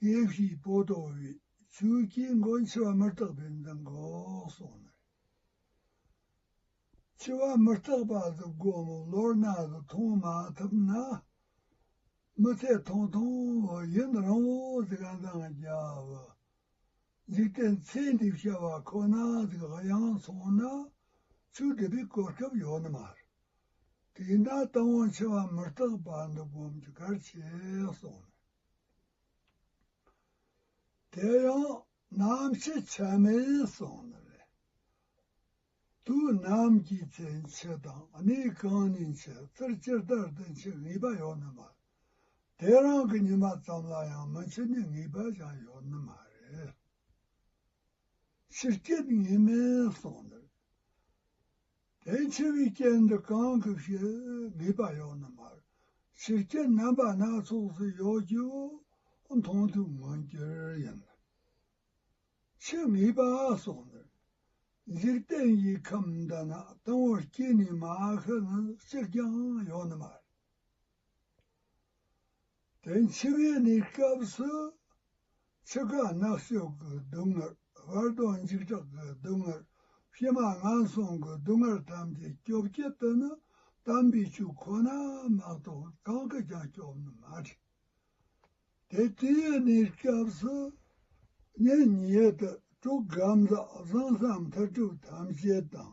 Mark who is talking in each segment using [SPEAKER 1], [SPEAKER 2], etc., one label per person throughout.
[SPEAKER 1] དེ་བཞིན་པོ་དོ་བའི་ཆུའི་དཀྱིལ་འཁོར་འཆི་བ་མི་རྟག་པའི་མདངས་འགོག་སོགས་ནས། འཆི་བ་མི་རྟག་པ་འདི་སྒོ་མོ་ལོར་ན་དུ་མཐོང་མ་ཐུབ་ན། མི་ཐེག་མཐོང་མཐོང་བ་ཡུན་རིང་བོ་དེ་ག་འདང་རྒྱབ། འཇིག་རྟེན་ཚེ་འདི་བྱ་བ་ཁོ་ན་དེ་ག་ཡང་མཚུངས་ན། ཆུ་འདི་པའི་གོ་སྐབས་ཡོད་ནི་མ་རེད། དེས་ན་རྟ་བོང་ཆེ་བ་མི་སྐྲག་པ་འདི་སྒོམ་གྱི་གར་བྱེད་གསུངས་ནས། དེ་ཡང་ནམ་ཕྱེད་ཆ་མེད་གསུངས་ནས་ལན་དུ་ནམ་གྱི་ཚེ་འཆི་དང་གནས་གང་ནས་འཆི་ཚུལ་ཅི་ལྟར་དུ་འཆི་ངེས་པ་ཡོད་ནི་མ་རེད་དེ་རང་གི་ཉི་མ་ཙམ་ལ་ཡང་མི་འཆི་ནི་ངེས་པ་ཅང་ཡོད་ནི་མ་རེད། ཕྱིར་སྐྱེ་ངེས་མིན་གསུངས་ནས། དེའི་ཕྱིར་བའི་རྐྱེན་འདི་གང་གི་ཞེས་དགོས་པ་ཡོད་ན་མར་ཕྱི་རྐྱེན་རྣམ་པ་སྣ་ཚོགས་སུ་ཡོད་རྒྱུའོ། མཐོང་ཐོས་མངོན་གྱུར་ཡིན་ན་ཕྱི་ངེས་པ་སོགས་འདིར། འཇིག་རྟེན་གྱི་ཁམས་འདི་ན་དང་བོར་སྐྱེས་ནས་མ་ཤི་ན་ཅིར་ཀྱང་ཡོད་ན་མར། དེ་འཆི་བའི་ནི་སྐབས་སུ། ཆུ་ཁ་ནག་ཤོག་གི་སྡུག་བསྔལ་བར་དོའི་འཇིགས་སྐྲག་གི་སྡུག་བསྔལ་ཕྱི་མ་ངན་སོང་གི་སྡུག་བསྔལ་ཐམས་ཅད་སྐྱོབ་བྱེད་དུ་ནི་དམ་པའི་ཆོས་ཁོ་ན་མ་གཏོགས་གང་གིས་ཀྱང་སྐྱོབ་ནི་མ་བྲལ། དེ་དུས་ནི་སྐབས་སུ། ཉིན་གཉིས་དུ་དྲུག་གམ་ལྷག་བཟང་ས་མཐར་གྲུབ་ཐམས་ཅད་དང།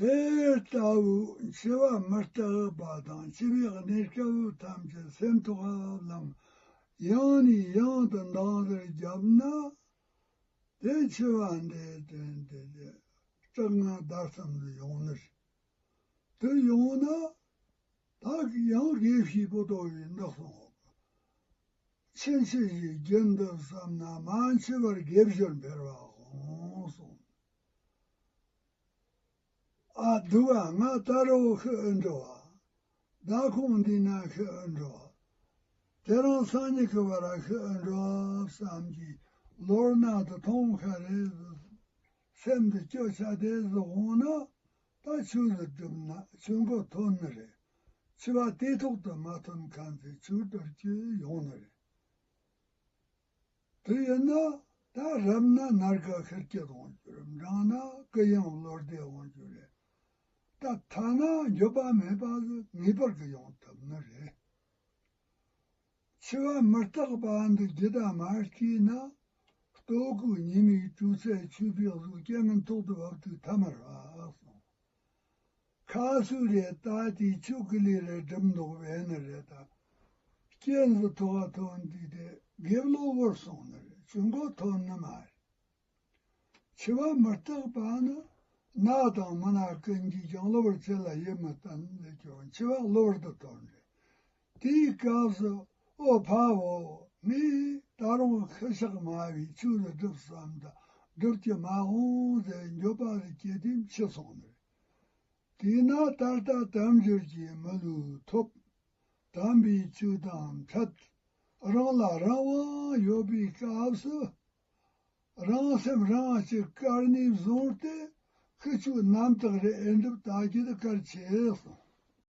[SPEAKER 1] དེ་ལྟ་བུའི་འཆི་བ་མི་རྟག་པ་དང་འཆི་བའི་གནས་སྐྱེ་བོ་ཐམས་ཅད་སེམས་ཐོག་ཧ་ལམ་ཡང་ནས་ཡང་དུ་འདང་རེ་བརྒྱབ་ན། དེ་འཆི་བ་འདིའི་དོན་དེ་ལས་སྐྲག་སྔངས་བདག་གསུམ་དུ་ཡོང་ནི་རེད། དེ་ཡོང་ན། ད་གི་ཡང་དགེ་བཤེས་པོ་ཏོ་བས་འདག་སོང་བ། ཕྱིན་ཆད་ཅིག་བརྒྱབ་འདུག་བསམ་ན་མང་ཆེ་བར་བརྒྱབ་ཞོར་འཕེར་བ་གོང་སོང་ཨ་འདུག་ཨ་ང་ལྟ་རོ་ཤི་ཨི་འགྲོ་བ་བདག་ཁོང་འདི་ན་ཤི་ཨི་འགྲོ་བ་དེ་རང་སང་ཉིད་ཀྱི་བར་ཤི་ཨི་འགྲོ་བསམ་གྱིས་ལོར་ནང་དུ་ཐོང་ཁ་རེ་བཟོས་སོང། སེམས་འདི་སྐྱོ་ཆགས་བདེ་སུ་འོང་ན། རྟ་ཕྱུགས་སུ་བསྒྲུབས་ན་ཆོས་འཁོར་ཐོབ་ནི་རེད། འཆི་བ་སྟེ་ཐོག་ཏུ་མ་ཐོན་གང་ཚེ་ཆུར་འདོར་རྒྱུ་ཡོང་ནི་རེད། དེ་ཡིན་ན་ད་རབས་ན་ནར་ཁ་ཁེར་སྐྱེད་འོང་རྒྱུ་རེད་འབྲང་ན་ཀི་ཡང་བློར་བདེ་འོང་རྒྱུ་རེད། ད་ཐ་ན་འགྱོད་པ་མེད་པ་ལ་ངེས་པར་གྱི་ཡོང་ཐུབ་ནི་རེད། འཆི་བ་མི་རྟག་པ་འདི་ཇི་ལྟར་མ་སྐྱེས་ན། ལྟོ་སྐུ་ཉི་མའི་སྤྲོས་ཚད་ཆུ་བེད་གཟུགས་སྐྱེ་མིན་ཐོག་ཏུ་བབ་དུས་ཐ་མར་བབས་སོང། ཁ་སུ་རེ་ལྟ་དེ་ཆུ་ཀི་ལི་རེ་འགྲིམ་མདོག་བས་ནི་རེ་ལྟ། སྐྱེས་འདི་ཐོ་བ་ཐོ་འདི་དེ་དགེ་བློ་བོར་སོང་ནི་རེ་ཆུ་འགོ་ཐོ་ནི་མ་རེ། འཆི་བ་མི་རྟག་པ་ནི་ནགས་དང་མུན་ནག་ཀུན་གྱིས་ཀྱང་གློ་བུར་ཚེ་ལ་ཡིད་མི་བརྟན་ལས་ཀྱང་འཆི་བ་གློ་བུར་དུ་ཐོབ་འདྲེ། དེའི་སྐབས་སུ་ཨོ་བྷ་བོ་ངས་ད་རུང་ཤི་ཤག་སྨྲ་བའི་ཆོས་ལ་སྒྲུབ་བསམ་དང་སྒྲུབ་ཀྱི་མ་འོངས་ཟད་འགྱོད་པ་ལས་སྐྱེས་དེ་འཆི་སོང་ནི་རེད། དེས་ན་ད་ལྟ་དམ་འབྱོར་གྱི་མི་ལུས་ཐོབ། དམ་པའི་ཆོས་དང་འཕྲད། རང་ལ་རང་དབང་ཡོད་པའི་སྐབས་སུ། རང་སེམས་རང་གཅེས་དཀར་ནི་བཟུང་སྟེ་ཁུ་བྱུག་རྣམ་དག་རེ་ཨེ་འགྲུབ་བརྟག་རྒྱུ་དེ་གར་བྱས་སོང།